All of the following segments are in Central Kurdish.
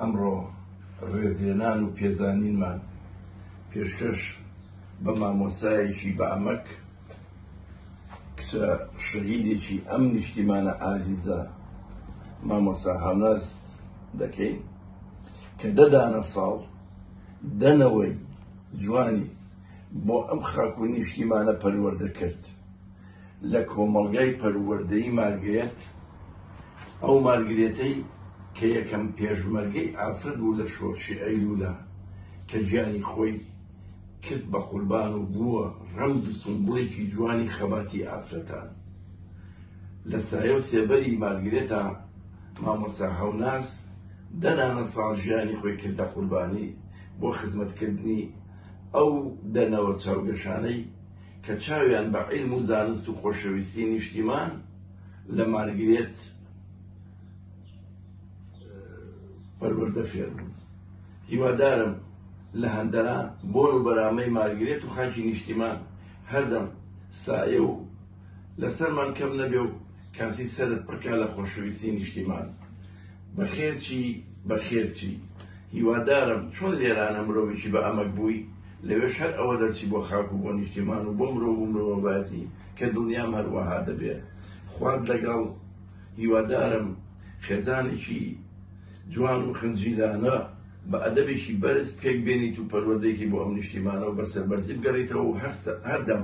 ئەمڕۆ ڕێزلێنان و پێزانینمان پێشکەش بە مامۆستایەکی بە ئەمەک کچە شەهیدێکی ئەم نیشتیمانە ئازیزە مامۆستا هەڵاز دەکەین کە دەدانە ساڵ دەنەوەی جوانی بۆ ئەم خاک و نیشتیمانە پەروەردە کرد. لە کۆمەڵگای پەروەردەی مارگرێت، ئەو مارگرێتەی کە یەکەم پێشمەرگەی ئافرەت بوو لە شۆرشی ئەیلولا کە گیانی خۆی کرد بە قوربان و بووە رەمز و سمبوڵێکی جوانی خەباتی ئافرەتان. لە سایە و سێبەری مارگرێتا مامۆستا هەوناز دە دانە ساڵ ژیانی خۆی کردە قوربانی بۆ خزمەتکردنی ئەو دە نەوە چاوگەشانەی کە چاویان بە عیلم و زانست و خۆشەویستی نیشتیمان لە مارگرێت پەروەردە فێر بوون هیوادارم لە هەندەران بۆن و بەرامەی مارگرێت و خاکی نیشتیمان هەردەم سایە و لەسەرمان کەم نەبێ و کاسی سەرت پڕکا لە خۆشەویستی نیشتیمان بەخێرچی بەخێرچی هیوادارم چۆن لێرانە مرۆڤێکی بە ئەمەک بووی لەوێش هەر ئەوە دەرچی بۆ خاک و بۆ نیشتیمان و بۆ مرۆڤ و مرۆڤایەتی کە دڵنیام هەروەها دەبێ خوات لەگەڵ هیوادارم خێزانێکی جوان و خنجیلانە بە ئەدەبێکی بەرز پێک بێنیت و پەروەردەیەکی بۆ ئەم نیشتیمانە و بە سەربەرزی بگەڕیتەوە و هەر هەردەم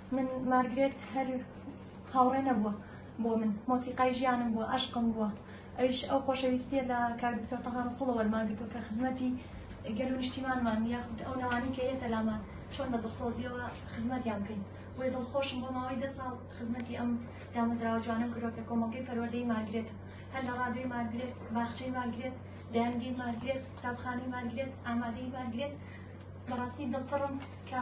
من مارگرێت هەر هاوڕێ نەبووە بۆ من مۆسیقای ژیانم بووە ئەشقم بووە ئەوش ئەو خۆشەویستیە لە کار دکتۆر تەها ڕسوڵە وەرمانگرتو کە خزمەتی گەل و نیشتیمانمان یاخود ئەو نەوانی کە یەتە لامان چۆن بە دڵسۆزیەوە خزمەتیان بکەین بۆی دڵخۆشم بۆ ماوەی دە ساڵ خزمەتی ئەم دامەزراوە جوانم کردوە کە کۆمەڵگەی پەروەردەی مارگرێتە هەر لە ڕادوی مارگرێت باخچەی مارگرێت دەیانگەی مارگرێت قوتابخانەی مارگرێت ئامادەی مارگرێت بەڕاستی دڵپڕم کە